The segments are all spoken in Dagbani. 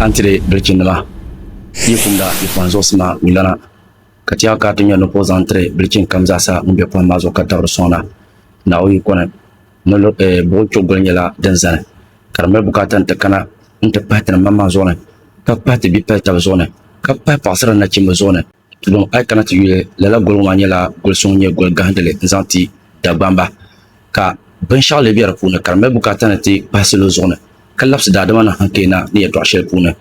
A ni ti di bilichinnima yi kumda yi pɔhim zuɣusi maa mi lana, ka ti a ka a ti nya ni ka o zaŋ n-tiri bilichin kam zaa sa ŋun be pɔhim maa zuɣu ka tabiri sɔŋda Naawuni yikɔni ni lo, eh, buɣi chogoli nyɛla din zani ka di mali bukaata nti kana nti pahi ti ni maŋmaŋ zuɣu ni, ka pahi ti bipali tabi zuɣu ni, ka pahi paɣisiri ni nachimba zuɣu ni. Tulim a yi kana ti yuli, lala goli ŋɔ maa nyɛla goli so ŋun nyɛ goli gahindili n-zaŋ ti Dagbamba, ka binshɛɣu lee be di puuni ka di mali bukaata ni ti pahi salo zuɣu ni. ka labsi daadama ni hankpeena ni yɛtɔɣ shɛli puuni.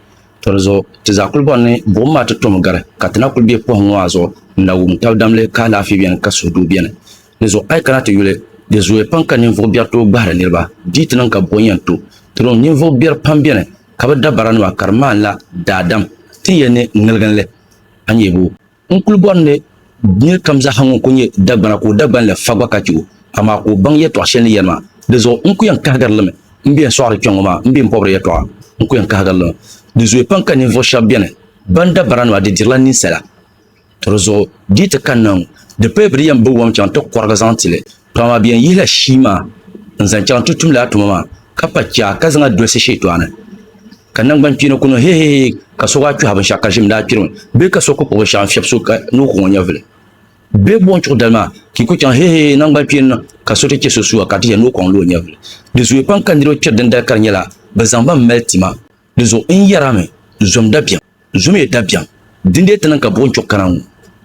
Tɔ di zuɣu ti zaa kul bɔri ni buɣim maa ti tomi gari, ka ti na kul be pɔhim ŋɔ a zuɣu n-na wum tab damli ka alaafee beni ka suhudoo beni. Di zuɣu a yi kana ti yuli, di zooya pam ka ninvuɣ biɛri tooi gbahiri niriba. Di yi ti niŋ ka bɔ yɛn to tiriŋ ninvuɣ biɛri pam beni ka bɛ dabaranima ka di maanila daadam ti ni yɛn ne ŋiliginli a nyebo. N kul bɔri ni nir kam zaa ha ŋun ku nyɛ Dagbana ka o Dagban la fa gba ka chɛ o, amaa ka o baŋ yɛtɔɣ shɛli ni yɛli maa. Di zuɣu n ku yɛn kahigiri li mi. M bɛn sɔɣiri kpiɔŋ ŋɔ maa, m bɛn bɔbiri yɛtɔɣa, n ku yɛn kahigiri li mi. Di zooi pam ka ninvuɣ shɛb beni bɛn da baranima di dirila ninsala. Tɔ di zuɣu di yi ti kanna ŋɔ, di paya bɛ di yɛn bibiwam chaŋ ti kɔrigi zaŋ ti li, to amaa bɛ yɛn yihila shii maa n-zaŋ chaŋ ti tum lala tuma maa, ka pa chɛa ka zaŋ a dolsi shɛtɔɣu ni. Ka nangbani kpeeni ku niŋ hehehee ka so gaa kpɛhi binshɛɣu ka ʒim daa kpirimi bee ka so ku kpuɣi binshɛɣu n-fiɛbi so ka ni o ku ŋɔ nyɛvili bee buɣim chuɣu dali maa ka yi ku chaŋ hehehee nangbani kpeeni niŋ ka so ti chɛ so sua ka ti yɛli ni o kɔŋ li o nyɛvili. Di zooya pam ka niriba kpiri dindali ka di nyɛla bɛ zaŋ ba m-mali tima. Di zuɣu n yɛrami zom dabiɛm. Zomie dabiɛm, dindee ti niŋ ka buɣim kpiɔɣu kana ŋɔ.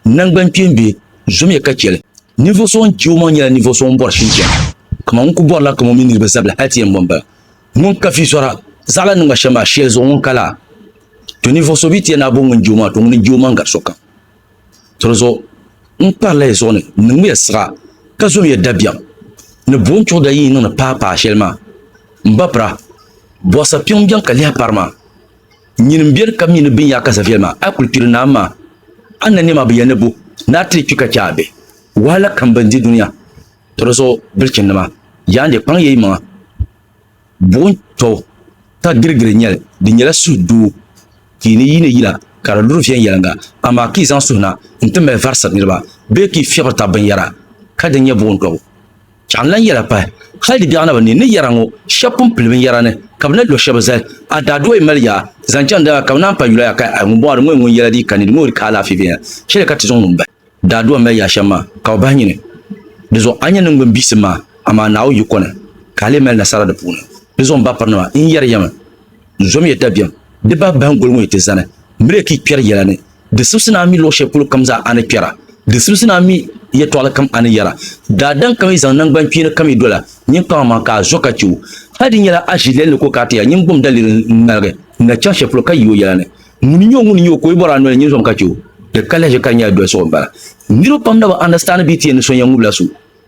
Nangban kpeembe, zomie ka cheli. Ninvuɣ so ŋun che o maŋ nyela ninvuɣ so ŋun bɔri shinchɛm, kaman ŋun ku bɔri la kam o mini niriba zabili hal ti yɛn bɔ m-bala. Ŋun ka fiisɔra, zaɣ la ni ŋma shɛm maa, sheli zuɣu ŋun ka la? To ninvuɣ so bi ti yɛn naai bo ŋun je o maa, to ŋuni n-je o maŋ gari sokam. To di zuɣu n kpari la ya zuɣu ni n niŋm ya siɣa, ka zom ya dabiɛm, ni buɣim kpiɔɣu da yi yi niŋdi paai paai sheli maa. M ba pira, bɔɣisa kpiɔŋ m-beni ka lihi pari ma. Nyin m beni ka mi ni bin yaa ka Zaviel maa, a kuli kpiri naa maa. A na nɛma bi ya ni bo ni a ti kpi ka chɛ a bihi wahala kam bɛn di dunia tɔri zuɣu bilichinnima. Yaande kpaŋ ya yi maŋa. Buɣim tɔbu ka girigiri nyɛli. Di nyɛla suhu doo ka yi ni yiini yila ka di luri viɛnyɛliŋga, amaa ka yi zaŋ suhina n-ti mali varisiri niriba bee ka yi fiɛbiri tab binyɛra ka di nyɛ buɣim tɔbu. Chɛɣu n-lan yɛla pahi hal di biɛɣu naba ni ni yɛra ŋɔ shɛb pun pili binyɛra ni ka bɛ na lo shɛba zali. A daa dooyi mali ya zaŋ chaŋ dala ka bɛ naan pa yula ya ka a ŋun bɔŋɔ di ŋɔ n ŋun yɛla di yi kani di ŋoori ka alaafee viɛnya shɛli ka ti zaŋ ŋun bahi daa dua mali ya shɛm maa ka o bahi nyini. Di zuɣu a nya niŋgbuŋ bihisim maa amaa Naawuni yi kɔni ka a lee mali nasara di puuni. Di zuɣu m ba pirinima n yɛri ya mi n zom ya dabiɛm di bahi bahingoli ŋɔ yi ti zani mi lee ka yi kpɛri yɛla ni Di sibisi ni a mi luɣ shɛli polo kam zaa a ni kpɛra, di sibisi ni a mi yɛtɔɣili kam a ni yɛra. Daadam ka yi zaŋ naŋgbankpeeni kam yi doli a ninkpama maa ka a zo ka chɛ o. Hal di nyɛla a ʒilɛli ni ka o kana ti ya, nyin gbum daliri n-ŋmaligi n na chaŋ shɛli polo ka yi o yɛla ni, Ŋuni n-nyɛ o, ŋuni n-nyɛ o ka o yi bɔri a noli nyin zom ka chɛ o? Di ka lahiʒi ka di nyɛla dolisigu m-bala. Niriba pam na bi understand bee ti yɛli ni so n-yɛn ŋub la so.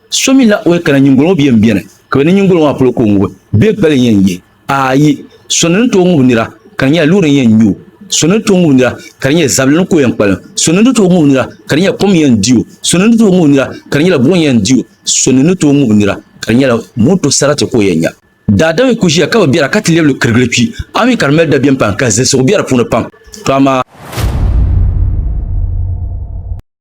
So mi n-lahi o ya kana nyiŋgoli ŋɔ bi yɛn beni ka bɛ ni nyiŋgoli ŋɔ maa polo ka o ŋubi bee gbali n-yɛn yihi. Aai! So ni ni tooi ŋubi nira ka di nyɛla loori n-yɛn nya o, so ni ni tooi ŋubi nira ka di nyɛla zabili ni ka o yɛn kpalim, so ni ni tooi ŋubi nira ka di nyɛla kom n-yɛn di o, so ni ni tooi ŋubi nira ka di nyɛla buɣim yɛn di o, so ni ni tooi ŋubi nira ka di nyɛla moto sarati ka o yɛn nya. Daadam yi ku ʒiya ka bi bɛra ka ti lɛbi li kirigili kpi, a mi ka di mali dabiɛm pam ka zilisigu be di puuni pam. To amaa!